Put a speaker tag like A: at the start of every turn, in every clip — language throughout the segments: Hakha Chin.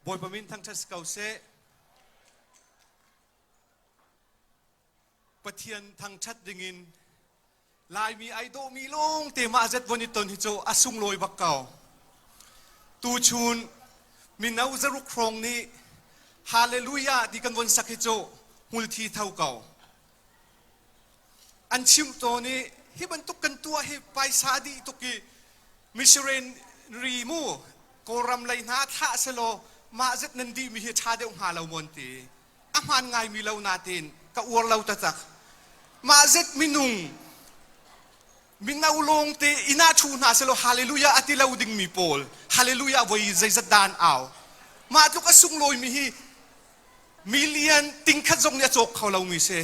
A: Bawipa min thangṭhat si ko seh. Pathian thangṭhat dingin Laimi ai dawhmi lawngte mah zet von i ton hi cu a sunglawi bak ko. Tuchun mino zaruk hrawng nih Hallelujah ti kan von sak hi cu hmulthi tho ko. an chimh tawn i hi bantuk kan tuah hi paisa dih tuk i missionary mu kawlram lei hna thlah selaw mah zet nan dih mi hi ṭha deuh hnga lo mawn ti a hmaan ngaimi lo natein ka uar lo taktak mah zet minung mino lawngte ina thu hna selaw hallelujah a ti lo dingmi pawl hallelujah voi zeizat dan au mah tluk a sunglawimi hi million tingkhat zong nih a cawk kho lomi si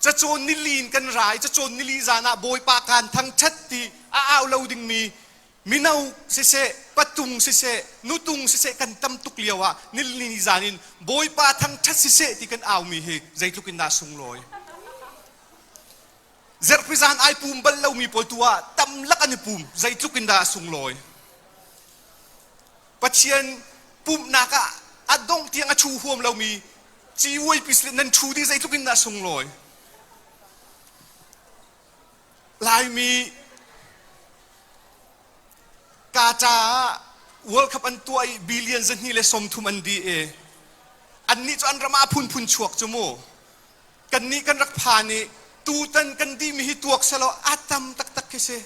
A: cacawn nili in kan rai cacawn nili zan ah bawipa kaan thangthat ti a au lo dingmi mino siseh patung siseh nutung siseh kan tam tuk lio ah nilini zan in bawipa thangthat siseh ti kan aumi hi zeitluk in dah sunglawi Zerhpi zaan ai pum bal lomi pawl tu ah tamlak an i pum zeitluk in dah a sunglawi. Pathian pumhnak ah a dongh tiang a thu huam lomi ciuai pisle nan thu di zeitluk in dah a sunglawi. Laimi ka caah World Cup an tuah i billion zahni le som thum an di i annih cu an ram ah phunphun chuak cu mu kannih kan rak phan i tutan kan dihmi hi tuak selaw a tam taktak khi si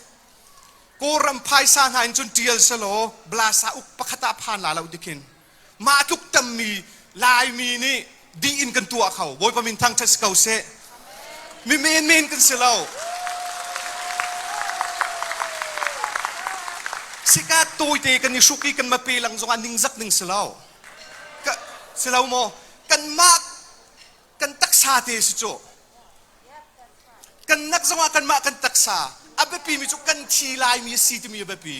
A: kawlram phaisa hna in cun ṭial selaw blasa uk pakhat ah phan la lo dikhin mah tluk tammi laimi nih dih in kan tuah kho bawipa min thangṭhat si ko seh mi menmen kan si lo sika tawite kan i hruk i kan mape lang zongah ningzak ning si lo si lo maw kan mah kan taksa te si cu kan nak zongah kanmah kan taksa a biapimi cu kan thi laimi a si timi a biapi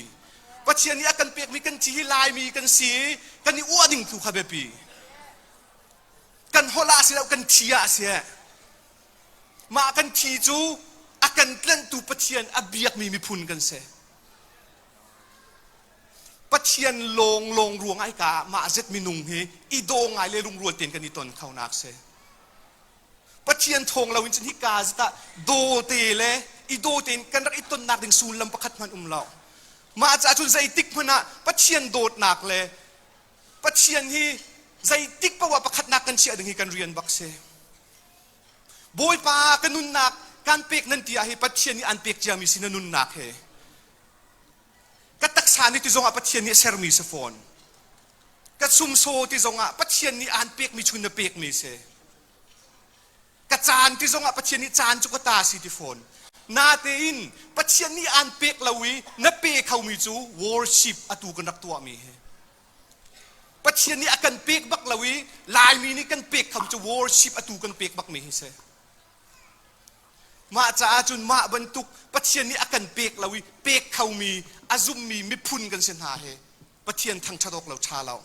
A: pathian nih a kan pekmi kan thi hi laimi kan si i kan i uah ding tu kha biapi kan holh ah si lo kan thi ah si mah kan thi cu a kan tlanhtu pathian a biakmi miphun kan si Pathian lawnglawng ruang ai ka mah zet minung hi i daw ngai le lungrual ten kan i ton kho nak se Pathian thawng lo in cun hi ka zita daw te le i daw tein kan rak i ton nak ding sullam pakhat hman um lo mah ca cun zeitik hmanh ah Pathian dawtnak le Pathian hi zeitik pawa pakhat nak kan chiah ding hi kan rian bak se Bawipa ka nunnak kan pek nan ti ah hi Pathian nih an pek ciami si na nunnak he ka taksa nih ti zongah Pathian nih a sermi si fawn ka sumsaw ti zongah Pathian nih aan pekmi chun na pekmi si ka caan ti zongah Pathian nih caan cu ka ta si ti fawn natein Pathian nih aan pek lo i na pe khomi cu worship atu kan rak tuahmi hi Pathian nih a kan pek bak lo i Laimi nih kan pek kham cu worship atu kan pek bakmi hi si Mah caah cun mah bantuk Pathian nih a kan pek lo i pek khomi a zummi miphun kan si hna he Pathian thangṭhat awk lo ṭha lo.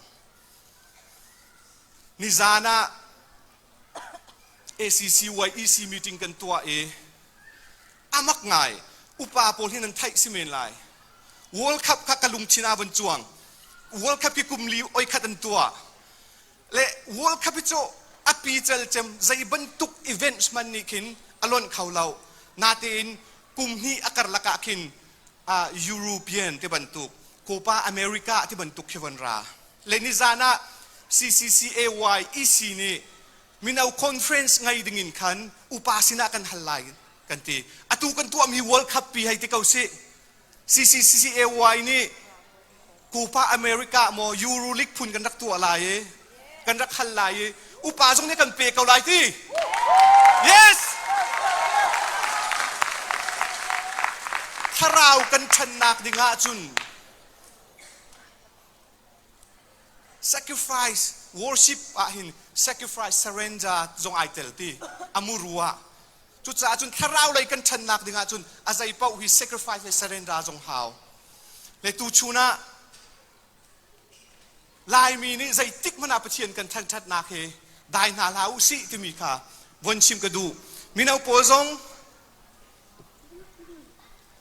A: Nizan ah ACC-YEC meeting kan tuah i a mak ngai. Upa pawl hi nan theih si men lai. World Cup kha ka lungthin ah van cuang. World Cup hi kum li oi khat an tuah. le world cup hi cu a pical cem zei bantuk events man nih khin a lonh kho lo natein kum hnih a karlak ah khin uh, European ti bantuk Copa America ti bantuk khi von ra le nizan ah CCCAY EC nih mino conference ngai ding in khan upa sinah kan hal lai kan ti atu kan tuahmi world cup pi hei ti ko si CCCAY nih Pupa America ah maw Euroleague phun kan rak tuah lai i kan rak hal lai i upa zong nih kan pe ko lai ti. Yes! Thlarau kan ṭhannak ding ahcun sacrifice worship ah hin sacrifice surrender zong ai tel ti amuru ah Cucaah cun thlarau lei kan ṭhannak dingah cun a zeipaoh hi sacrifice le surrender zong hau. Le tu chun ah Laimi nih zeitik hmanh ah Pathian kan thangṭhatnak hi dai hna hlah u sih timi kha von chim ka duh. Mino pawl zong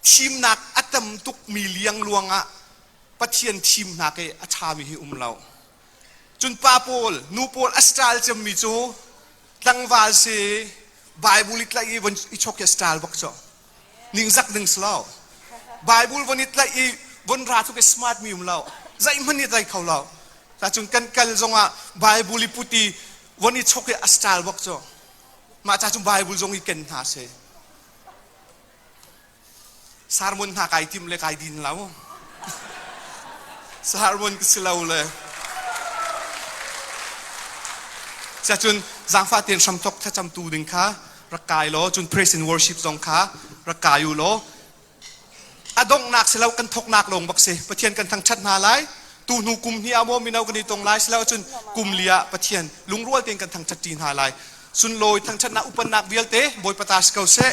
A: thimnak a tam tukmi liangluang ah Pathian thim hna ke a ṭhami hi um lo. Cun pa pawl, nu pawl a style cemmi cu tlangval si Bible i tlaih i von i chok hi a style bak cu. Ningzak ding si lo. Bible von i tlaih i von ra tluk i smart mi um lo. Zeihmanh i tlaih kho lo. Cacun kan kal zongah Bible i put i von i chok hi a style bak cu. Mah ca cu Bible zong i ken hna seh. Sermon hna kai tim le kai din lo. Sermon ka si lo le. Siacun zangfa ten hramthok thlacamtu ding kha rak kai law cun praise and worship zong kha rak kai u law a donghnak si lo kan thoknak lawng bak si pathian kan thangthat hna lai tu hnu kum hi amo mino kan i tong lai si lo cun kum li ah pathian lungrual ten kan thangthat ṭi hna lai sunlawi thangṭhatnak upatnak vialte Bawipa ta si ko seh.